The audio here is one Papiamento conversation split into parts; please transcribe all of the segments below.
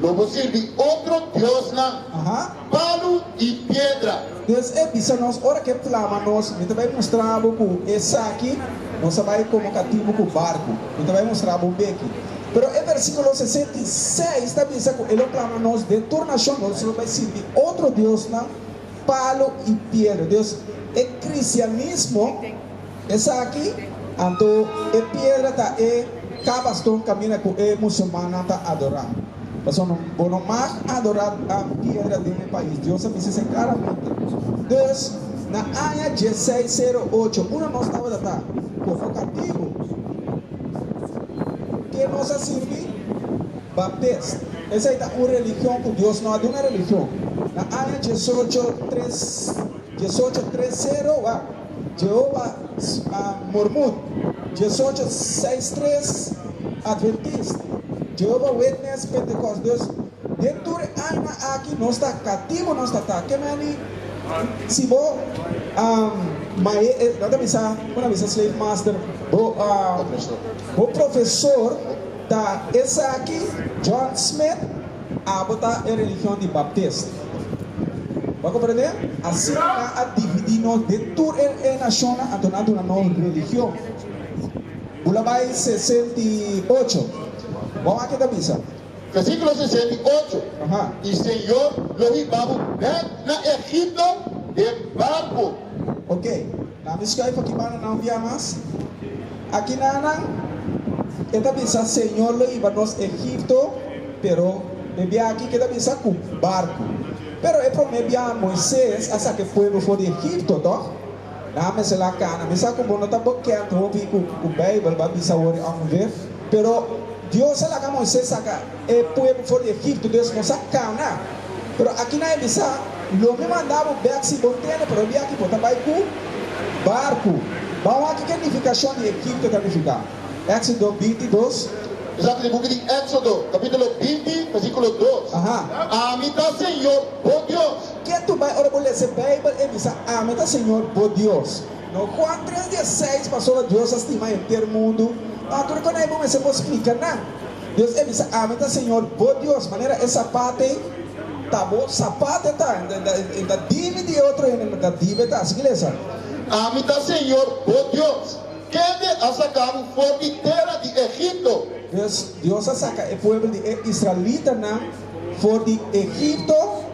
Lo bo sirbi otro diosnan, palu i piedra. Deus a bisa nos ora ke plama nos, Mi ta bai mustra bo ku esaki no sa bai komo katibu ku barku. Mi ta bai mustra bo beki. Pero e versikulo sesenta i seis ta bisa ku e lo plama nos den tur nashon, nos lo bai sirbi otro diosnan, palu i piedra. Deus, e kristianismo. Esaki anto e piedra ta e kabaston kaminda ku e musulmannan ta adorá. Pasobra bo no mag adorá nan piedra den e pais, Dios a bisa esei klaramente. Dus, na aña dieseis sero ocho, unda nos tabata ta? Komo katibu. Ke nos a sirbi? Baptist. Esei ta un religion ku Dios no a duna religion. Na aña diesocho tres diesocho tres sero, wak. Jehova Mormon, diesocho seis tres Adventist, Jehova Witness, Pentecost Dus den tur e aña aki nos ta katibu nos ta ta. Ke men a di si bo a mae nan ta bisa bo na bisa slave master bo a bo profesor ta esaki John Smith. Abo ta e religion di Baptist. Bo comprende? Asina nan a dividi nos den tur e nacionnan, anto nan a duna nos religion. Bo la bai sesenta i ocho. Bo a wak kico ta bisa. Versículo sesenta i ocho, I Señor lo hiba bo bek na Egipto den barco. Oke. Na mi scuay pa ki banda nan via mas. Aki na nan e ta bisa Señor lo iba nos Egipto pero e bia aki ke ta bisa cu barcu. Pero e prome bia Moises a saca e pueblo for di Egipto to. Nan mester la cana. Mi sa cu bo no ta bokend hopi cu Bijbel ba bisa awor y angu ver pero Dios a laga Moises saca. E pueblo for di Egipto pues nos a cana, pero aki nan e bisa, Lo mi manda bo bek si bo ntende, pero di aki bo ta bay cu barco. Bou a kiko e nificacion di Egipto ta nifica. Exodo bintidos. Esaki ta e buki di Exodo, capitulo binti, versiculo dos. Ami ta Señor bo Dios. Ke tur bay ora bo lesa e Bijbel e bisa, Ami ta Señor bo Dios? No, Juan tres di e seis pasobra Dios a stima e henter mundu, pa tur e konai bo mester por splica nan. Dios e bisa, Ami ta Señor bo Dios. Manera e sapat ei ta bo sapat e ta. E ta dibi di e otro hende, no ta dibi e ta. Asiki lesa. Ami ta Señor bo Dios, kende a saka bo for di tera di Egipto. Pues, Dios a saka e puebel di e israelitanan for di Egipto.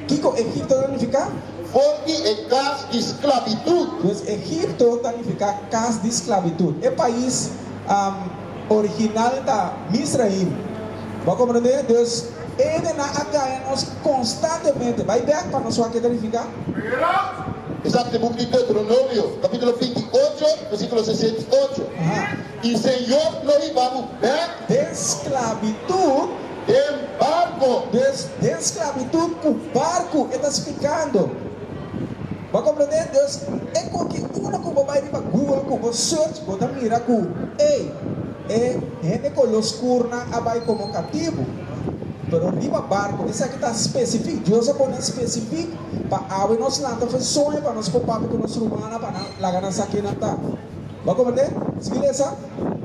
Kiko Egipto ta nifiká? For di e kas di sklabitut. Pues, Egipto ta nifiká kas di sklabitut. E pais. Original ta Misraim. Bo a komprendé? Dus ene nan a gaña nos konstantemente. Bai bèk pa nos wak ke ta nifiká. Esaki ta buki di Deuteronomio, kapítulo binti i ocho, versíkulo sesenta i ocho. E Señor lo hiba bo bèk. Den sklabitut. Den barko. Dus den sklabitut ku barku e ta splikando. Bo a komprendé? Dus, e konke unda ku bo bai riba Google ku bo search, bo ta mira ku, ey, e hende koló oskurnan a bai komo katibu. Pero riba barku, esaki ta spesifik. Dios a pon'é spesifik pa awe nos lanta fu e soño pa nos por papia ku nos rumannan pa nan laga nan sa kinan ta. Bo a komprendé? Sigui lesa.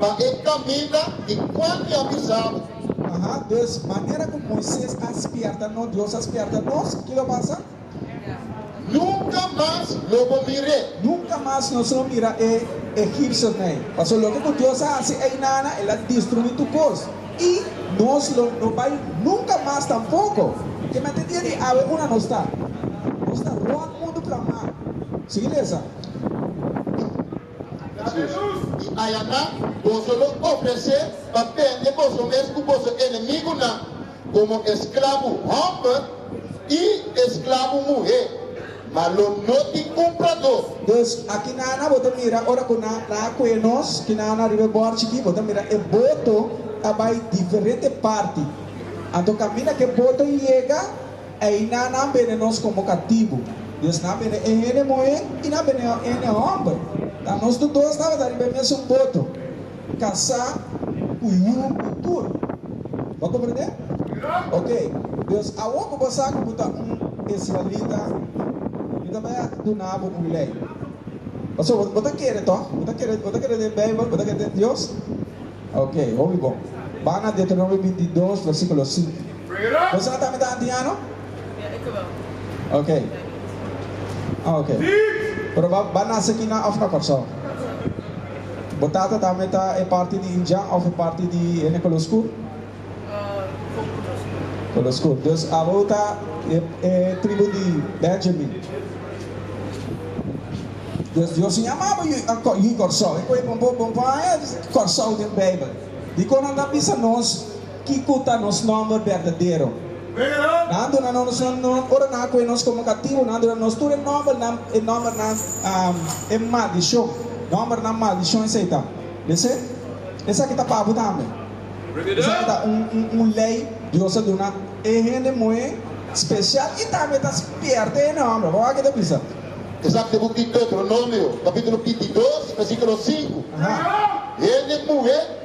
Pa e kaminda di kual mi a bisabo. Aha, dus, manera ku Moises a spièrta nos, Dios a spièrta nos, kiko lo pasa? Nunca mas no bo mir'é. Nunca mas no so mira e egipcio n'ey. Paso loke cu Dios a haci ey nana, el a destrui tu cos, y nos lo no bay nunca mas tampoco. Te mete dia di awe unda nos ta. Nos ta rond mundu plan mal. Sigui lesa. Jesus. I ayanan boso lo ofresé pa bende boso mes ku boso enemigunan komo esklabo hòmber i esklabo muhé, ma lo no tin kumpradó. Dus, a kinan bo ta mira ora ku nan la kue nos? Kinan riba e bòrchi aki bo ta mira e boto ta bai diferente parti. Anto kaminda ku e boto yega. Eina nan bene nos komo katibu. Dios nan bene e hende muhé i nan bene e hende hòmber. Ta nos tur dos tabata riba e mesun boto, kasá ku yu ku tur. Bo a komprendé? Oke, Dios, awor ku bo sa ku bo ta un israelita, mi ta bai a duna bo un lei. Pasobra bo, bo ta kere, tò? Bo ta kere, bo ta kere den Beibel, bo ta kere den Dios? Oke, hopi bon. Bai na Deuteronomio binti dos, versíkulo sinku. Nos a ta mita anti ano? Ok. Ok. Pero bo bo a nase aki na of na Corsou? Bo tata ta mita e parti di Injan of e parti di hende color scur? Color scur. Dus abo ta e e tribu di Benjamin. Dus Dios a yama bo yu yu Corsou. E cu e bon bo bon bo a haña Corsou den Bijbel? Dicor nan ta bisa nos? Kico ta nos nomber berdadero? Nan a duna nos e nom ora nan a coe nos como cativo. Nan a duna nos tur e nombernan, e nombernan e maldicion. Nombernan maldicion esey ta. Mester esaki ta pa bo tambe. Esaki ta un ley Dios a duna e hende moe special y tambe ta pierde e nomber. Bo a wak kico ta bisa? Esaki ta bo tic Deuteronomio capitulo binti dos versiculo sinku. Hende moe.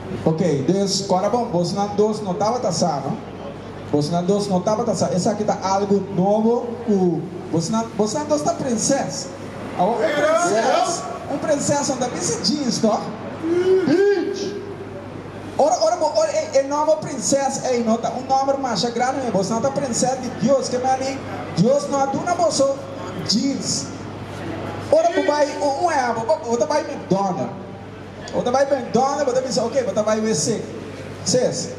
Ok, dus kora bon, bosnan dos no tabata sa, no? Bosnan dos no tabata sa. Esaki ta algu nobo ku bosnan, bosnan dos ta prinses. Awa un prinses, un prinses no ta bisti jeans, tòg? Beach! Ora, ora bo ora ei, e nòmber prinses ei no ta un nòmber masha grandi, mi. Bosnan ta prinses di Dios. Ke mani Dios no a duna boso jeans. Ora bo bai un wen abo, bo ta bai McDonald. Bo ta bai McDonald's, bo ta bisa, oke, bo ta bai WC. Ses,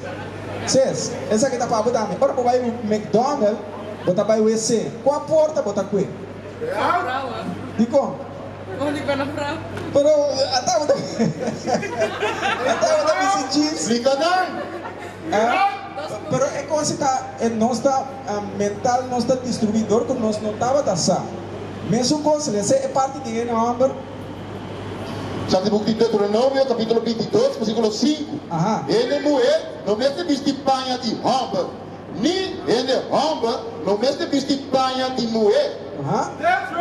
ses, esaki ta pa bo tambe. Ora bo bai McDonald's, bo ta bai WC, kua porta bo ta kue? Dikon? Pero ata bo ta ata bo ta bisti jeans. Pero e kos ta e nos ta mental nos ta distruí dor ku nos no tabata sa. Mesun kos, resé e parti di e hòmber. Sa di buk di Deuteronomio kapitulo bintidos bersikulo sinku, Hende muher no mester bisti paña di hòmber, ni hende hòmber no mester bisti paña di muher,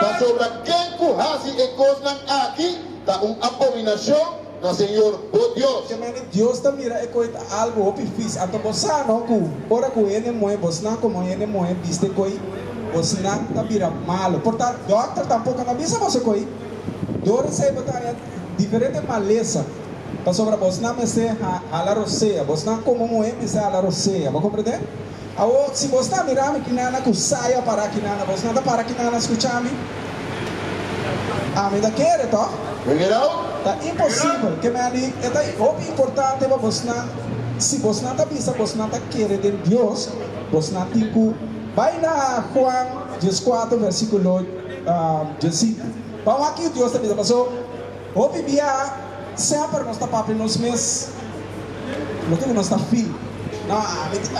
pasobra ken ku hasi e kosnan aki ta un abominashon na señor bo Dios. Kemende Dios ta mira e koi ta algu hopi fis. Anto bo sa no ku ora ku hende muher bosnan komo hende muher bisti e koi, bosnan ta bira malu. Por tantu, dòkter tampoko no bisa boso e koi. Dor esei bo ta haña diferente malesa, pasobra bosnan mester hala rosea. Bosnan komo muhé mester hala rosea. Bo komprendé? Awor, si bosnan a mira mi, kinana ku sai a pará kinana, bosnan ta para kinana a skucha mi? Ami ta kere, tò? Ta imposibel. Ke manera di? E ta hopi importante pa bosnan. Si bosnan ta bisa bosnan ta kere den Dios, bosnan tin ku bai na Juan dieskuater, vèrsikulo. Djosito. Pan wak-yu Dios ta bisa, Paso, hopi bia semper nos ta papia nos mes, no tin di nos ta fil. No,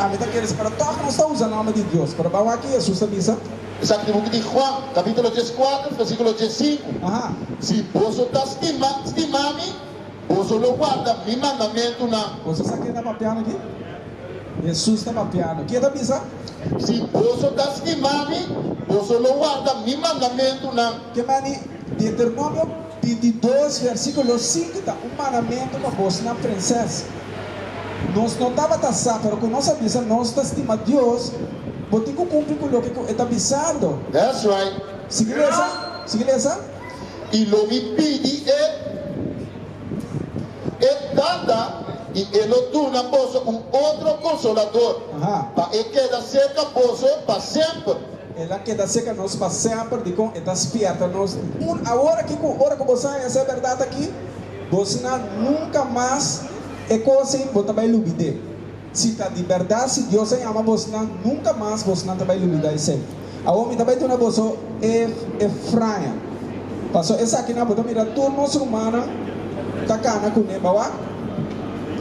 ami ta kere separá tòg nos ta usa nòmber di Dios. Pero pan wak-yu Hesus ta bisa. Esaki ta buki di Juan, kapítulo dieskuater, vèrsíkulo diessinku, Si boso ta stima, stima mi, Boso lo guarda mi mandamentunan. Boso sa ke ta papiando aki? Hesus ta papiando. Ke ta bisa? Si boso ta stima mi, boso lo guarda mi mandamentunan. Ke mai di Deuteronomio bintidos, versikulo sinku ta un mandamentu pa bosnan prenses? Nos no tabata sa, pero ku nos a bisa nos ta stima Dios, bo tin ku kumpli ku loke ku e ta bisando. That's right. Sigui lesa. Sigui lesa. i lo mi pidi e, e tata, i e lo duna boso un otro Konsolador, pa e keda serka boso pa semper. El a keda serka nos pa semper, dikon? E ta spièrta nos un awor aki ku ora ku bo sa hesé e bèrdat aki, bo sna nunka mas e kos ei, bo ta bai lubid'é. Si ta di bèrdat, si Dios a yama bo sna, nunka mas bo sna ta bai lubidá esei. Awor mi ta bai duna boso e e fraña, paso esaki nan bo ta mira tur nos rumannan ta cana cune, bo a wak?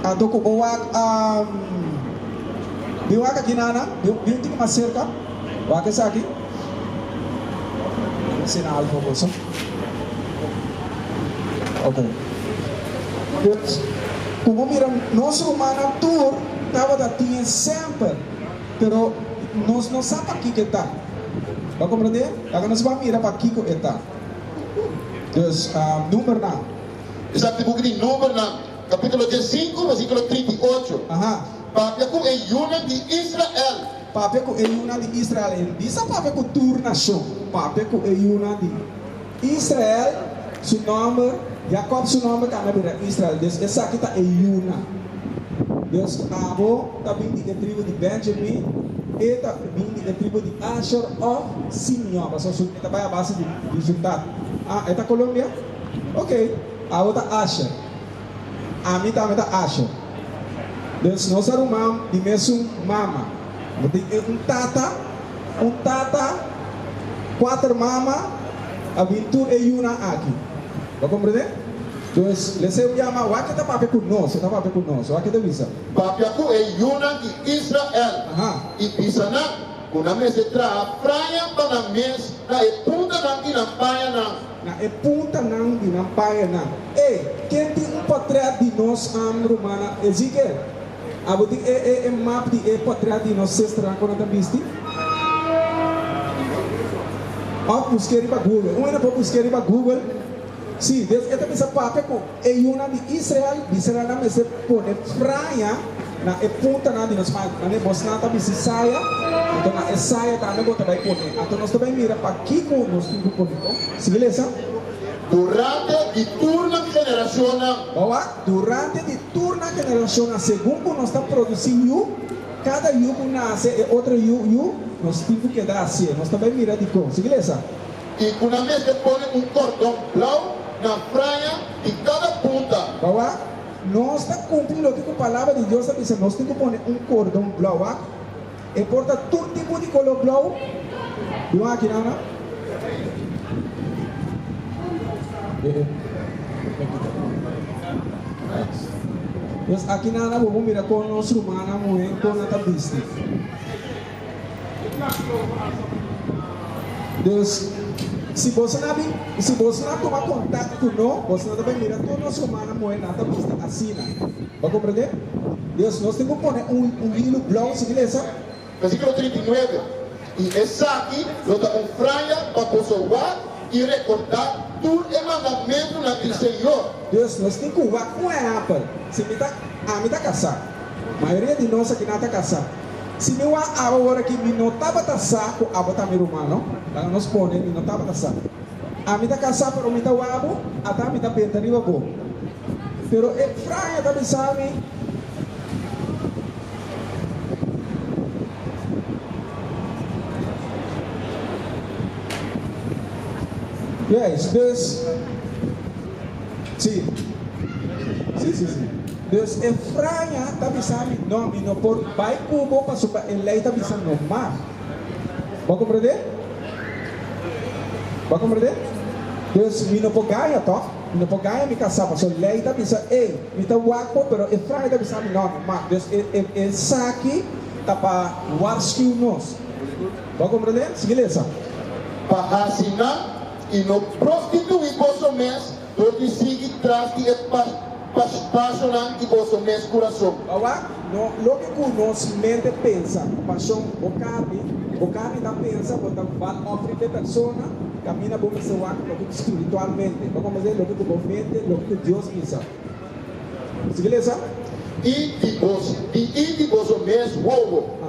Anto cu bo wak a bin wak aki nana, bin un tiki mas cerca, wak esaki, mi sina algo boso, ok, pues cu bo mira nos rumannan tur tabata tin e semper. Pero nos no sa pakiko e ta. Bo a komprendé? Laga nos bai mira pakiko e ta. Dus, Numbernan. Esaki buki di Numbernan, kapítulo di e sinku, versíkulo trinta i ocho. Papia ku e yunan di Israel. Papia ku e yunan di Israel. E no bisa papia ku tur nashon. Papia ku e yunan di. Israel su nòmber, Jakòb su nòmber tambe a bira Israel, dios esaki ta e yuna. Dios abo ta bin di e tribu di Bènjamin, e ta bin di e tribu di Asher òf Simeon. Pasobra su ta bai a base di resultado. Ah, e ta Colombia? Oke, abo ta Asher. Ami tabata asha, Deus nos a ruman di mesun mama. Bo tin e un tata, un tata, kuater mama a bin tur e yunan aki. Bo a komprende? Pues Leseu yama, Wak ta papia ku nos, e ta papia ku nos. Wak ta bisa. Papia ku e yunan di Israel i bisa nan ku nan mester traha fraña pa nan mes na e puntanan i nan pañanan. Na e puntanan di nan payanan. E, ke tin un potrèt di nos am rumannan Ezekiel? Abo tin e e e map di e potrèt di nos sesternan ku nan ta bisti? Òf busk'é riba Google. Un hende por busk'é riba Google. Sí, des e ta bisa papia ku. E yunan di Israel bisa nan nan mester pone praña na e puntanan di nos mano. Nan e bosnan ta bisti saya, anto na e saya tambe bo ta bai pone. Anto nos ta bai mira pakico nos tin cu poneco. Sigui lesa. Durante di tur nan generacionnan. Bawa, durante di tur nan generacionnan, segun cu nos ta produci yu, cada yu cu nace, e otro yu, yu, nos tin cu keda asie. Nos ta bai mira dicon. Sigui lesa. i ku nan mester pone un kòrdon blau na fraña di kada punta. Awa, nos ta kumpli loke ku Palabra di Dios a bisa nos tin ku pone un kòrdon blau aki. E por ta tur tipo di koló blau, biba aki nada. Nos aki nada bo por mira kon nos rumannan muhé kon nan ta bisti. Dus, si boso na bin, si boso na tuma kontak ku no, boso no ta bai mira tur nos humana muhé nan ta bista asina. Bo a komprendé? Dus, nos tin ku pone un un hilu blou si milesa. Versíkulo trinta i nuebe, I esaki lo ta un franja pa boso wak i rekordá tur e mandamentunan di Señor. Dus, nos tin ku wak. Un ehèmpel, si mi ta, ami ta kasá. Mayoria di nos aki nan ta kasá. Si mi wak abo worde ki mi no tabata sa ku abo ta mi ruman no. Laga nos pone mi no tabata sa. Ami ta kasá pero mi ta wak bo, ata mi ta benta riba bo. Pero e fraña ta bisa mi, Yes, bes, si, si, si, si. Dus e fraña ta bisa mi, No, mi no por bai ku bo pasobra e lei ta bisa no mar. Bo a komprendé? Bo a komprendé? Dus mi no por gaña, tò? Mi no por gaña mi kasá, pasobra lei ta bisa ei, mi ta wak bo, pero e fraña ta bisa mi, No, no mar. Dus e, e, esaki ta pa warskiu nos. Bo a komprendé? Sigui lesa. Pa hasi nan i no prostituí boso mes. Por di sigui tras di e pasionan di boso mes kurason. Awa, loke ku nos mente pensa, pasion bo karni, bo karni ta pensa bo ta val ofri p'e persona, kaminda bo mester wak loke ku spiritualmente, ta kome esei loke ku bo mente, loke ku Dios bisa. Sigue lesa. I di bos, di i di boso mes wowo,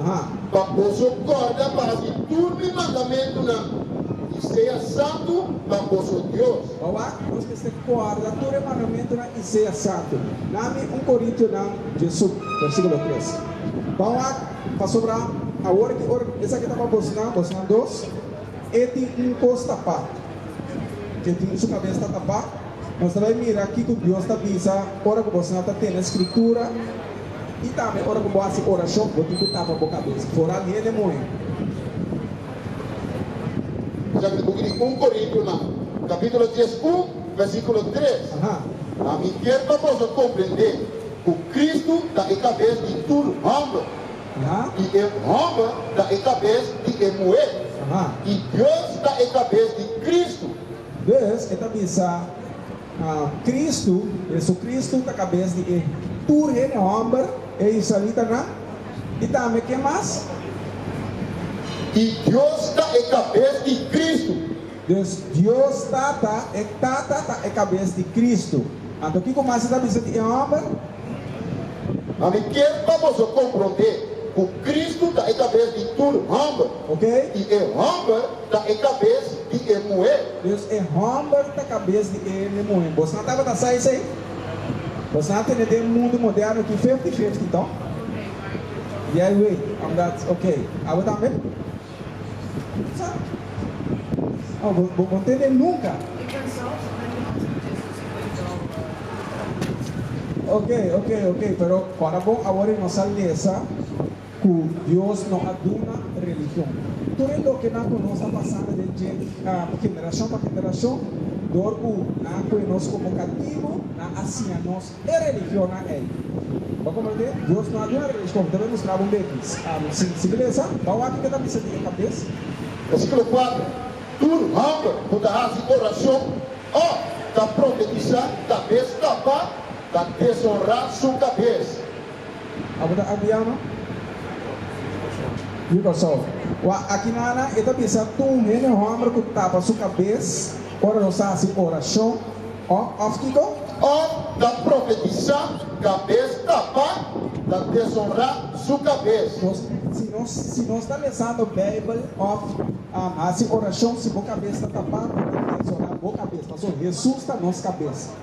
pa boso kòrda pa hasi tur mi mandamentunan i sea santu pa boso Dios. Bawa, nos mester kòrda tur e mandamentunan i sea santu. Na mi un Korintionan Jesù, versikulo tres. Bawa, pasobra awor di ora esaki ta pa bosnan, bosnan dos, e tin un kos tapá, ke tin su kabes ta tapá. Nos ta bay mira kico Dios ta bisa ora cu bo sa ta tene scritura y tambe ora cu bo haci oracion bo tin cu tapa bo cabeza foral hende moe. Bishak di buki di un Corintonan capitulo dies un versiculo tres, Ma mi kier pa boso comprende cu Cristo ta e cabez di tur homber, y e homber ta e cabez di e muher, y Dios ta e cabez di Cristo. Dus, e ta bisa, Kristu, Jesucristo, ta kabes di e tur hende hòmber, e israelitanan, i tambe ken mas? I Dios ta e kabes di Kristu. Dus, Dios Tata, e Tata ta e kabes di Kristu. Anto kiko mas e ta bisa di e hòmber? Ami kier pa boso komprondé ku Kristu ta e kabes di tur hòmber, i e hòmber Ta e kabes di e muhé. Dus e hòmber ta kabes di e muhé. Bos na tabata sa esei? Bos na tene den mundu moderno ki fifti fifti to? Yai wei, omdat okey, abo tambe? Sa? No, bo bo bo tende nunka. Okey, okey, okey, pero ora bon awor e nos a lesa. Cu Dios no a duna religion. Tur e lokenan cu nos a pasa na den dje generacion pa generacion, door cu nan coe nos como cativo, nan a siña nos e religionnan ey. Bo a comprende? Dios no a duna religion. Te bay mustra bo un bekis. Sin sin beleza, bao aki ke ta bisa di e cabes. Versículo cuatro, Tur homber cu ta haci oracion of ta profetiza cabes tapa, ta deshonra su cabes. Abo ta apiano? Di Kòrsou. Wak aki nana e ta bisa tur hende hòmber ku tapa su kabes ora nos ta hasi orashon òf òf kiko? Òf ta profetisá kabes tapa ta deshonrá su kabes. Nos si nos si nos ta lesando Beibel òf hasi orashon si bo kabes ta tapá ta deshonrá bo kabes. Pasobra Hesus ta nos kabes.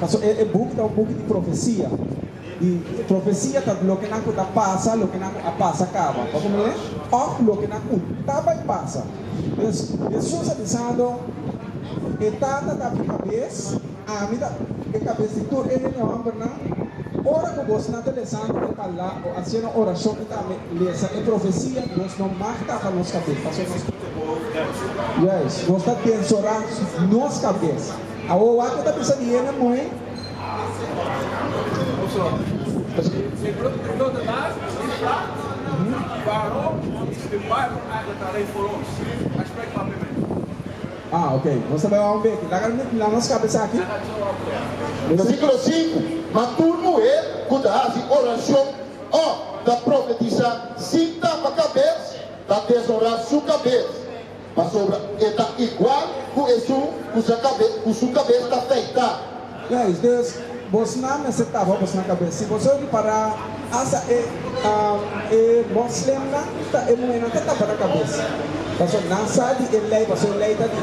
Pasobra e e buk ta un buk di profesia, i profesia ta loke nan ku ta pasa, loke nan ku a pasa kaba, bo komindo mi? Òf loke nan ku ta bai pasa. Pues, Hesus a bisando, E Tata ta mi kabes, ami ta e kabes di tur e hende hòmbernan. Ora ku bosnan ta lesando e pala o hasiendo orashon i tambe lesa e profesia, nos no mag tapa nos kabes, pasobra nos pone bo nervus. Juis, nos ta den sora nos kabes. Awo wak ta bisa di hende moe. Ah ok nos ta bai ora un beki laga la nos kabesa aki. Versículo sinku, Ma tur muher ku ta hasi orashon òf ta profetisá sin tapa kabes, ta deshonrá su kabes. Pasobra e ta igual ku esun ku su kabes ta feitá. Guys, dus bosnan mester tapa bosnan kabes. Si boso ripará, asta e e moslemnan ta e muhernan ta tapa nan kabes. Paso nan sa di e lei, paso e lei ta di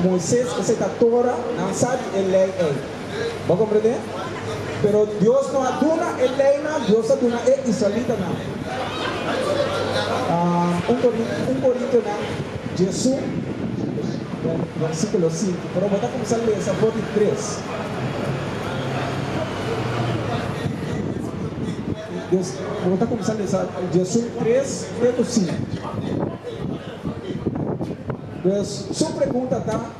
Moises, esei ta Tora, nan sa di e lei ei. Bo komprendé? Pero Dios no a duna e leynan, Dios a duna e israelitanan. Un Corintianan djesu, versiculo sinku, pero bo ta cuminsa lesa for di tres. Bo ta cuminsa lesa djesu tres te cu sinku. Su pregunta ta.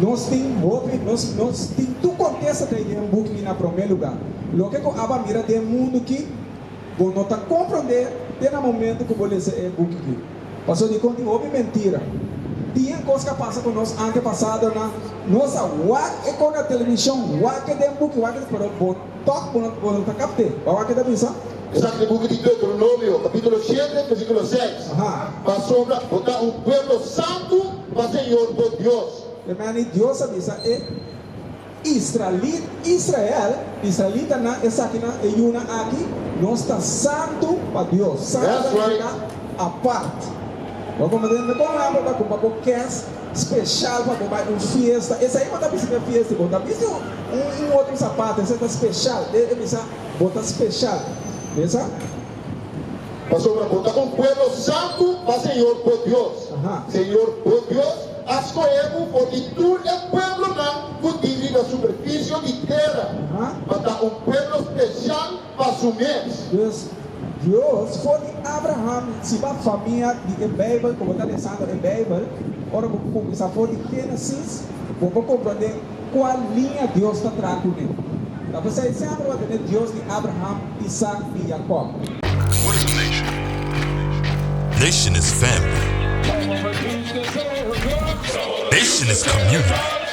Nos tin hopi, nos, nos tin tur kontesta dei den buk i na promé lugá. Loke ku abo a mira den mundu ki, bo no ta komprondé te na momentu ku bo lesa e buk aki. Pasobra dikon tin hopi mentira? Dien kos ku a pasa ku nos antepasadonan, nos a wak e kos na televishon, wak e den buk i wak e, pero bo, Tok bo no bo no ta kap te. Wawa ke ta bisa? Esaki di buki di Deuteronomio, kapitulo shete, versikulo seis, Pasobra bo ta un pueblo santu pa Señor bo Dios. E mani Dios a bisa e israelit, Israel, israelitanan esakinan, e yunan aki, Nos ta santu pa Dios. Santu ta nifiká apart. Bo a komprende kon nan bo ta kumpa bo kès? Special pa bo bai un fiesta esei bo ta bisa den fiesta y bo ta bisti un otro zapato esei ta special den e bisa bo ta special mesa. Pasobra bo ta un pueblo santu pa Señor bo Dios. Señor bo Dios a scohe bo for di tur e pueblonan cu tin riba superficie di tera pa ta un pueblo special, pa su mes. Dus, Dios, for di Abraham, si bo a famia di e Bijbel ku bo ta lesando e Bijbel, ora bo kuminsá for di Génesis, bo por komprondé kual liña Dios ta traha kuné. Ta pasa e sèmpel bo a tene Dios di Abraham, Isak i Jakòb. Nationis family. Nationis community.